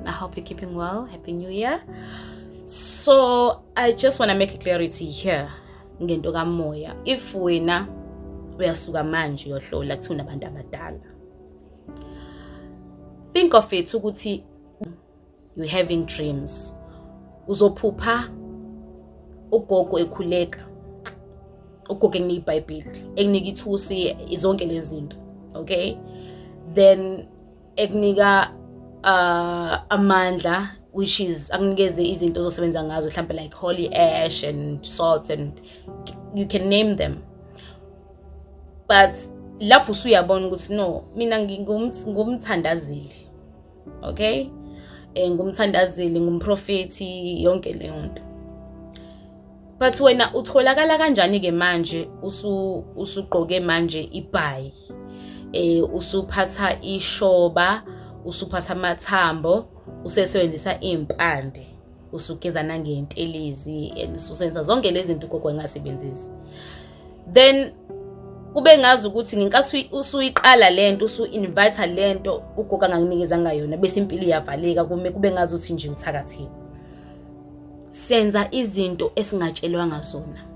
I hope you're keeping well. Happy New Year. So I just want to make a clarity here ngento kamoya. If wena uyasuka manje uyohlola kuthi unabantu abadala. Think of it ukuthi you having dreams. Uzophupha ugogo ekhuleka. Ugogo enginika iBhayibheli, enginika ithusi, izonke lezi zinto. Okay? Then ekunika uh, amandla which is akunikeze izinto ozosebenza ngazo mhlawumbe like holy ash and salts and you can name them but lapho usuyabona ukuthi no mina ngingumthandazeli okay um ngumthandazeli ngumprofethi yonke leyo nto but wena utholakala kanjani ke manje usu usugqoke manje ibhayi eh usuphatha ishoba usuphatha amathambo usesebenzisa impande usugeza nangentelezi and usenza zonke lezi zinto gogo engasebenzisi then kube ngazi ukuthi ngenkathi usuyiqala lento usu invite lento ugogo anganginikeza ngayo yona bese impilo iyavaleka kume kube ngazi ukuthi nje uthakathile senza izinto esingatshelwanga zona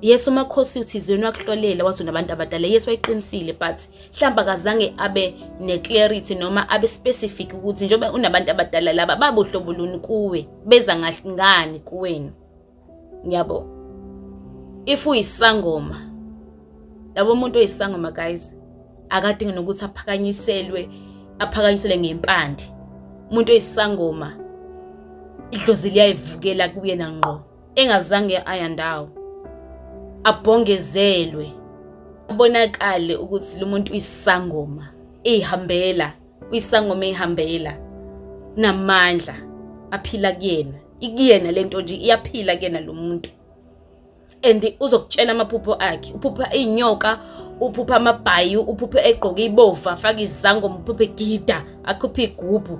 yesu umakhosi uthizweni wakuhlolela wathi unabantu abadala yesu wayiqinisile but mhlawumbe akazange abe ne-clarity noma abe specific ukuthi njengoba unabantu abadala laba babuhlobo luni kuwe beza ngani kuwena Ngiyabo. If uyisangoma yabo umuntu oyisangoma guys akadingi nokuthi aphakanyiselwe aphakanyiselwe ngempande umuntu oyisangoma idlozi liyayivukela kuyena ngqo engazange ayandawo abhongezelwe abonakale ukuthi lo muntu uyisangoma ihambela uyisangoma eyihambela namandla aphila kuyena ikuyena lento nje iyaphila kuyena lo muntu and uzokutshela amaphupho akhe uphupha izinyoka uphupha amabhayi uphupha egqoke ibovu afake izangoma uphupha egida akhuphe igubhu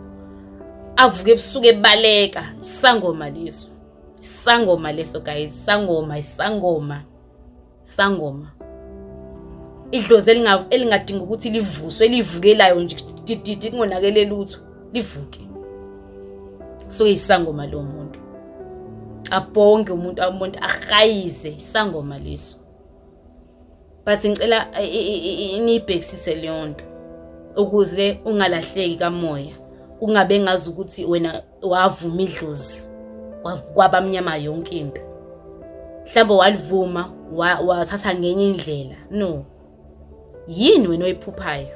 avuke ebusuku ebaleka isangoma leso isangoma leso guys isangoma isangoma Sangoma. Idlozi elinga elingadinga ukuthi livuswe elivukelayo nje dididi kungonakele lutho livuke. So isangoma lo muntu. Abhonge umuntu amuntu ahayize isangoma leso. But ngicela inibhekisise leyo nto ukuze ungalahleki kamoya ungabe ngazi ukuthi wena wavuma idlozi kwabamnyama yonke into mhlawumbe walivuma wathatha ngenye indlela no yini wena oyiphuphayo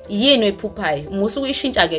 yini oyiphuphayo musa ukuyishintsha ke